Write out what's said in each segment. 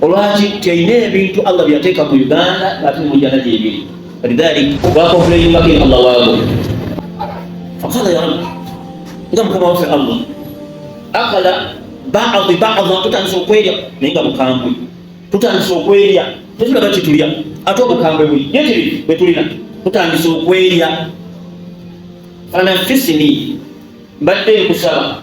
olwaki teyina ebintu Allah byateeka mu Uganda ate mu jana gyebiri lidhalik wakofuleyimbako Allah waabo fakala ya Allah nga mukama waffe Allah akala baadhi baadha tutandise okwerya naye nga bukambwe tutandise okwerya tetulaba kitulya ate obukambwe buli yekiri bwetulina tutandise okwerya fanafisini mbadde nkusaba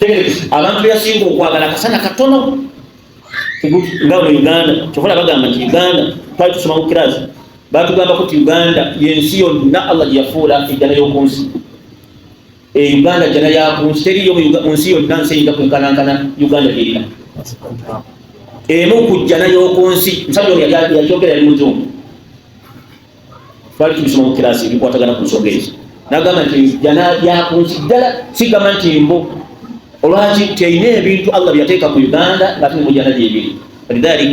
Tegereza, abantu beyasinga okwagala akasana katono Teguti, nga mu uganda kyokola bagamba nti uganda twali tusoma ku kirasi batugambako nti uganda yensi yonna allah gyeyafuula ejjana y'okunsi e uganda jjana yakunsi teriyo mu Uga- mu nsi yonna nsi eyinza kwenkanankana uganda gyerina emu ku jjana y'okunsi musajja ono yakyogera yali muzungu twali tubisoma mu kiraasi ebikwatagana ku nsonga ezo nagamba nti jana yakunsi ddala sigamba nti mbu olwaki terina ebintu allah byeyateeka ku uganda ngate ne mujana gyebiri lidhalik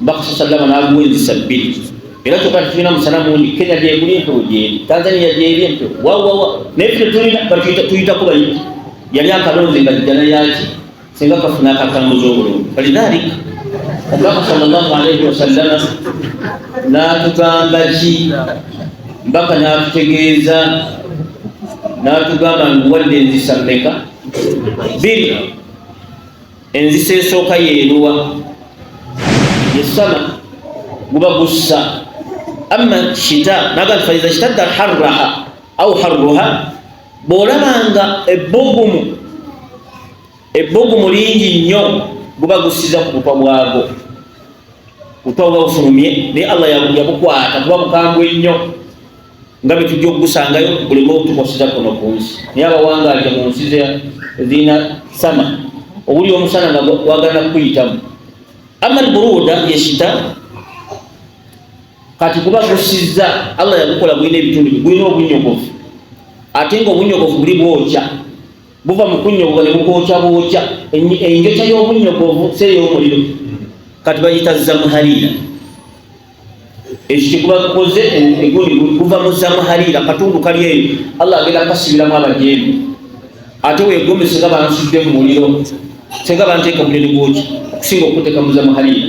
bakasa sallama naguwa enzisa bbiri era kyoka tetulina musana mungi kenya gyeguli empewo gyeri tanzania gyeri empewo wawawa naye ffe tetulina tuyitakuba yali akalonze nga jana yaki singa kafuna akatambuza obulungi falidhalik omubaka sallallahu alaihi wasallama n'atugamba ki mbaka n'atutegeeza n'atugamba nguwadde enzisa mmeka biri enzisa esooka yeeruwa yesama guba gussa amma shita naga faiza shtadda harraha au harruha Bw'olaba nga ebbugumu ebbugumu lingi nnyo guba gussiza ku butwa bwago butwa buba bufulumye naye allah yabukwata kuba bukambwe nnyo nga bwe tujja okugusangayo buleme otukwasiza kuno ku nsi naye abawangalya mu nsi zirina sama owuli omusana nga wagana kukuyitamu ama lburuuda yesita kati kuba gusizza Allah yagukola gulina ebitundu gulina obunyogovu ate nga obunyogovu buli bwokya buva mu kunyogoga ne bukwokya bwokya enjokya y'obunyogovu si ey'omuliro kati bayita zamuhaliira ekyo kyekuba gukoze egundi guva mu zamuhaliira katundu kali eyo Allah agenda kasibiramu abajeemu ate wegomese nga bansudde mu muliro senga banteeka muliro gwokya okusinga okuteeka mu zamuhaliira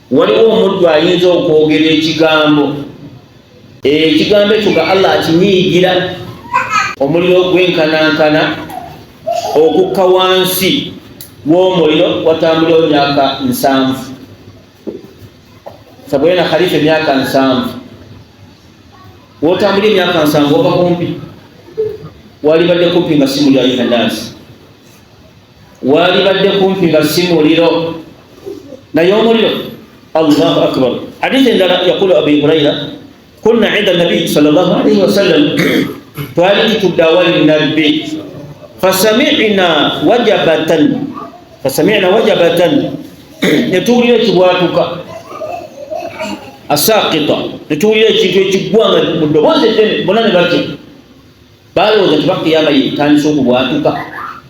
waliwo omuddu ayinza okwogera ekigambo ekigambo ekyo nga allah akinyiigira omuliro gwenkanankana okukka wansi w'omuliro watambuleo myaka nsanvu sabwena khalifa emyaka nsanvu wotambuli emyaka nsanvu ova kumpi walibadde kumpi nga simu lya yohanansi waalibadde kumpi nga si muliro naye omuliro allahu akbar hadisi endala yaqulu abi huraira kunna inda nabiyi sal llah alaihi wasallam twali tutudde awali nabbi fasamina wajabatan fasamina wajabatan netuwulira ekibwatuka asakita netuwulira ekintu ekigwa nga mu ddoboozi eddene bona ne batya balowooza tibakiyama yetandisa okubwatuka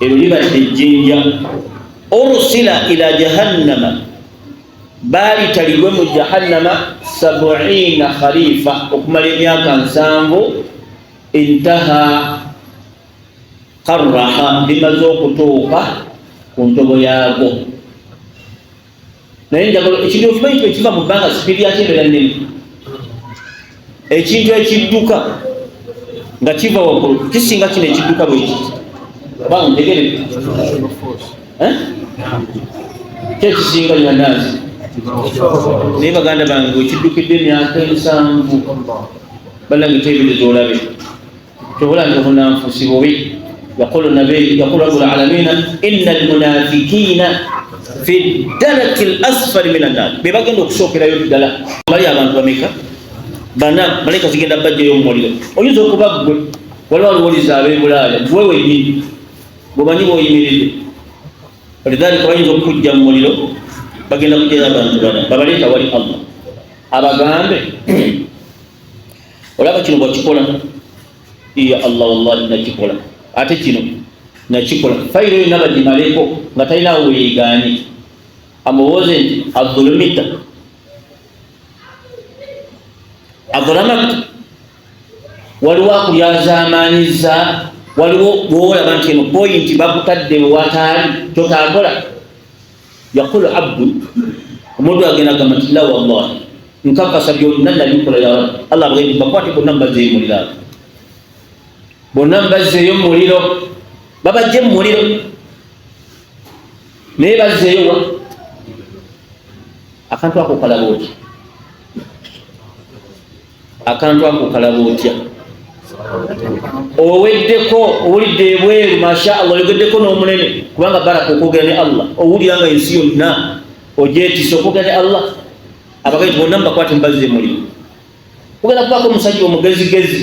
eryo libadde ejjinja ursila ila jahannama baalitalibwe mu jahannama sabuina khalifa okumala emyaka nsanvu intaha karaha limaze okutuuka ku ntobo yaago naye njagala ekintu okimanyi nti ekiva mu bbanga sipidi yakyo ebeera nnene ekintu ekidduka nga kiva waggulu kisinga kino ekidduka bweki banga ntegere eh? kyekisinga nyanaazi naye baganda bange wekiddukidde emyaka ensanvu banange tebirezoolabe tubula nti obunanfusi bubi yaqulu nabi yaqulu rabbul alamina innal munafiqina fi daraki lasfali min annar be bagenda okusookerayo ddala bali abantu bameka bana malaika zigenda bajjayo omumuliro oyinza okuba ggwe waliwo aluwuliza abebulaaya gwe wenyini bwemanyi bwoyimiridde walidhalika bayinza okukujja mu muliro bagenda kujjayo abantu bana babaleeta wali allah abagambe olaba kino bwakikola iya allah wallahi nakikola ate kino nakikola fayiro yonna bagimaleko nga talinawo weyegaanye amubuuze nti adhulumita adhulamat waliwo akulyazaamaanyiza waliwo bwolaba nti eno poyinti bakutadde wewataali kyotakola yaqulu abdu omuntu agenda gamba nti la wallahi nkakasa byonna nabikola ya rabbi allah bwendi bakwate bonna mbazzeyo muliro abo bonna mbazzeeyo muliro babajje mu muliro naye bazzeeyo wa akantu ako kalaba oti akantu ako kalaba otya oweddeko owulidde ebweru masha allah oyogeddeko n'omunene kubanga baraka okwogera ne allah owulira nga ensi yonna ogyetisa okwogera ne allah abagezi bonna mubakwate mubazze mulimu ogenda kubaako omusajja omugezigezi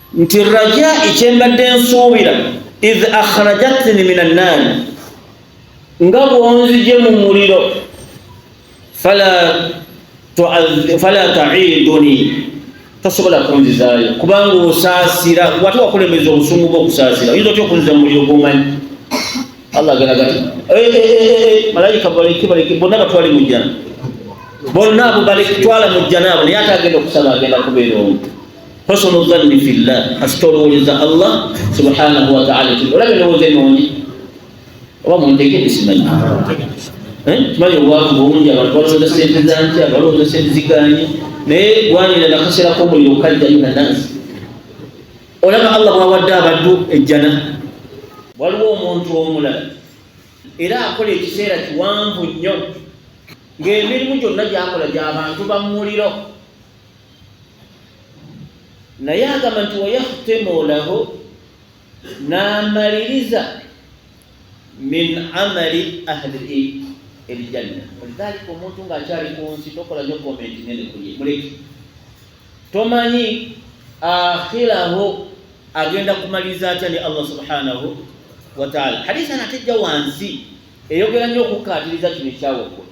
nti rajai kyembadde nsuubira id akhrajatni min annaari nga bwonzije mu muliro fala taiduni tosobola kunzizaayo kubanga osaasira wate wakulemeza obusungu bwokusaasira oyinza otya okunziza mu muliro gwomanyi allah agalagati eh, eh, eh, malayika baleke baleke bonna batwali mu jjana bonna abo baleke twala mu jjana abo naye ate agenda okusaba agenda kubeera omu Husnu dhanni fillah, asitolowooleza Allah subhanahu wa ta'ala. Olaba endowooza ennungi oba muntegedde simanyi eh? kimanyi obwavu bungi abantu balowooza sente zanki abalowooza sente ziganye naye gwanira nakasera komuliro kajja yuna nansi olaba allah bwawadde abaddu ejjana waliwo omuntu omulala era akola ekiseera kiwanvu nnyo ng'emirimu gyonna gyakola gyabantu bamuliro naye agamba nti wayahtemu lahu n'amaliriza min amali ahli elijanna walidhalika omuntu ng'akyali ku nsi tokola nyo komenti nene kuye muleke tomanyi akhiraho agenda kumaliriza atya ne allah subhanahu wataala hadisi anatejja wansi eyogera nnyo okukkaatiriza kino ekyawaggulu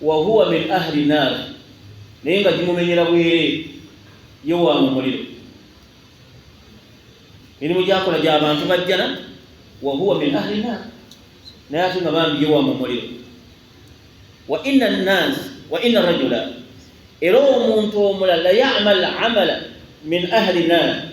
wahuwa min ahli naar naye nga gimumenyera bwere ye wa mu muliro mirimu gyakola gya bantu bajjana wahuwa min ahli naar naye ate nga bambi ye wa mu muliro wa inna nnas wa inna rajula era omuntu omulala yamal amala min ahli naar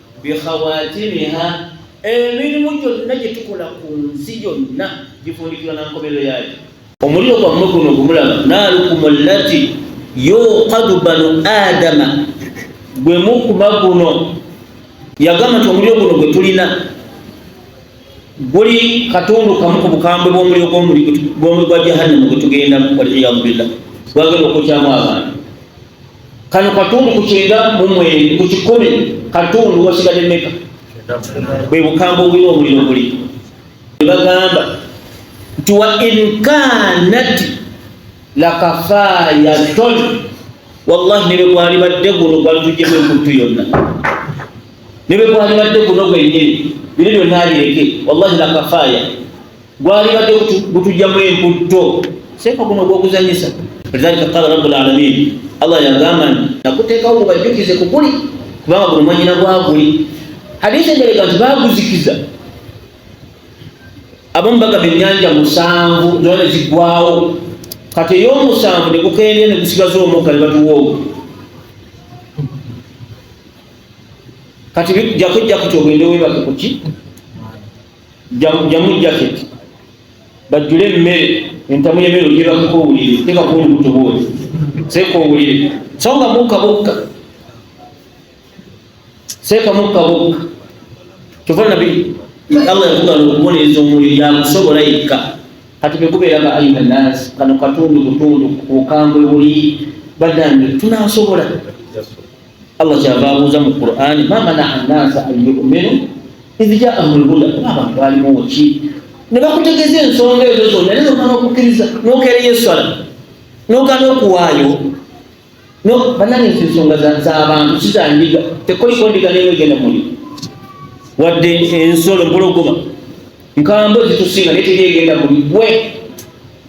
bikhawatimiha emirimu gyonna gye tukola ku nsi yonna gifundikirwa na nkomerero yaayo omuliro gwammwe guno gumulaba naalukumu llati yuqadu banu adama gwe mukuma guno yagamba nti omuliro guno gwe tulina guli katundu kamu ku bukambwe bw'omuliro gw'omuliro gwa jahannamu gwe tugendamu waliyadu billah gwagenda okukyamu abantu kano katundu ku kyenda mu mweri ku kikumi katundu wasigadde meka bwe bukamba obulina omuliro guli ne bagamba nti wa inkanat lakafayaton wallahi ne bwe gwalibadde guno gwalitujjemu ekuntu yonna ne bwe gwalibadde guno gwenyini bino byonna abireke wallahi lakafaya gwalibadde gutujjamu emputto seeka guno gwokuzanyisa lidhalika qala rabu lalamin allah yagamba nti nakuteekawo gubajjukize kukuli kubanga guno mwanyina gwaguli hadiisi engereka nti baguzikiza abamu bagamba ennyanja musanvu zona ne ziggwawo kati ey'omusanvu ne gukendera ne gusigaza omukka ne batuwa ogwo kati jakujja kuti ogende webake kuki jamu jacket bajjule emmere entamu y'emmere ogenda kuko owulire teeka ku olubuto bwoti seeka owulire so nga mukka bukka seeka mukka bukka kyova nabi allah yakugala okubonereza omwoyo yakusobola yekka kati bekubeera nga ayina naasi kano katundu butundu bukambwe buli badange tunasobola Allah kyava abuuza mu Qur'ani ma manaa annaasa an yu'minu idh jaahum lhuda abantu balimuwo ki ne bakutegeeza ensonga ezo zonna naye nokana okukkiriza nokereyo esswala nokana okuwaayo banange nti ensonga zabantu sizandiga tekoliko ndiga neyo egenda muli wadde ensolo mpologoma nkambo zitusinga naye teri egenda muli gwe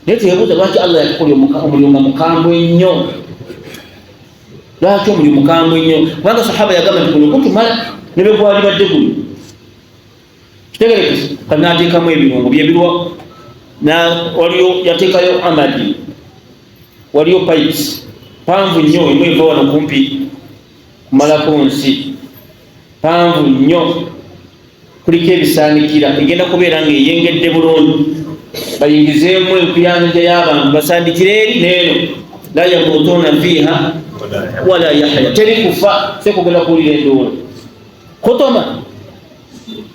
naye teyabuuza lwaki allah yakukolya omulunga mukambwe ennyo lwaki omuli mukambwe nnyo kubanga sahaba yagamba nti guno gutumala ne bwe gwalibadde guno kitegerekese kati n'ateekamu ebirungo byebirwa waliyo yateekayo amadi waliyo pipes panvu nnyo emu eva wano kumpi kumalako nsi panvu nnyo kuliko ebisaanikira egenda kubeera ng'eyengedde bulungi bayingizeemu enkuyanja y'abantu basandikire eri neeno la yamutuuna fiiha wala yahya teri kufa sekugenda kuwulira enduula kutoma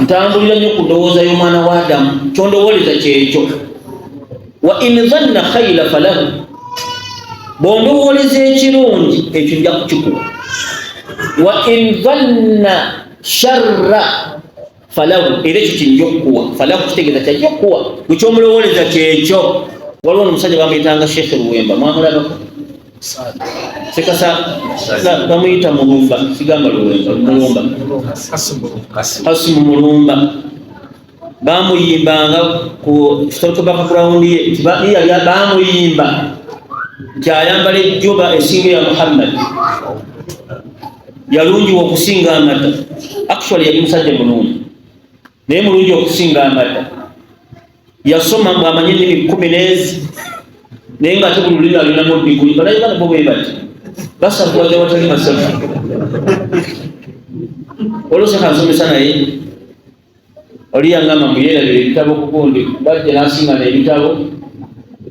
ntambulira nnyo ku ndowooza y'omwana wa adamu kyondowooleza kyekyo wa in zanna khaira falahu bwondowooleza ekirungi ekyo nja kukikuwa wa in zanna sharra falahu era ekyo kijja okukuwa falahu kitegeeza kyajja okukuwa bwekyomulowooleza kyekyo waliwo nomusajja bamuyitanga sheekhe luwemba mwamulabako sekasa bamuyita mulumba sigamba mulumba kasimu mulumba bamuyimbanga ku stotobaka ground ye nti ba- yali bamuyimba nti ayambala ejjoba esinga ya muhammad yalungiwa okusinga amata actually yali musajja mulungi naye mulungi okusinga amata yasoma mbu amanye ennimi kkumi n'ezi naye ng'ate buli lulimi alinamu diguli balayi bana bo bwe bati basakuwaza watali masavu oloseka nsomesa naye oli yangamba mbu yeerabira ebitabo kukundi bajja n'asinga n'ebitabo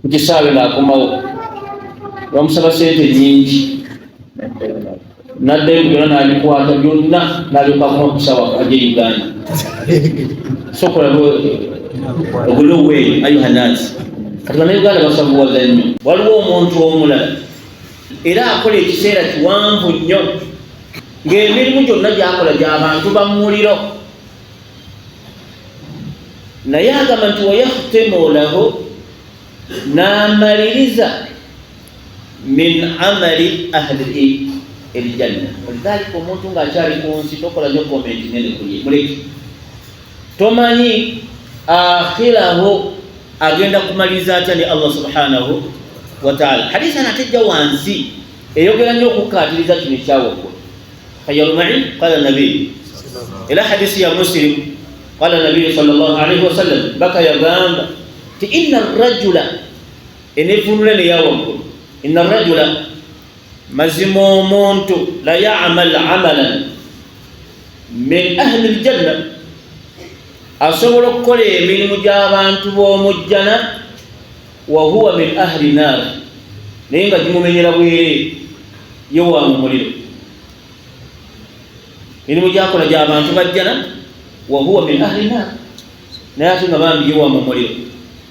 ku kisaawe ng'akomawo bamusaba sente nnyingi nadda ebigera n'abikwata byonna n'alyoka kuma ku sawa aje uganda sokola ogule oweeyo ayuha naasi kati banauganda basabuwaza nnyo waliwo omuntu omulala era akola ekiseera kiwanvu nnyo ng'emirimu gyonna gyakola gyabantu bamumuliro naye agamba nti wayahutemu olaho n'amaliriza min amali ahli elijanna walidhalika omuntu nga akyali ku nsi tokola nyo komenti nene kuye muleke tomanyi akhiraho agenda kumaliriza atya ne allah subhanahu wataala hadisa natejja wansi eyogera nyo okukkaatiriza kino ekyawaggulu hayalumai qala nabi era hadisi ya muslim qala nabiyu sal llah alaihi wasallam baka yagamba ti ina rajula enevunula ne yawagulu inna rajula mazima omuntu la ya'mal amalan min ahli aljanna asobola okukola emirimu gy'abantu b'omu jjana wa huwa min ahli naar naye nga gimumenyera bwere ye wa mu muliro mirimu gyakola gy'abantu bajjana wa huwa min ahli naar naye ate nga bambi ye wa mu muliro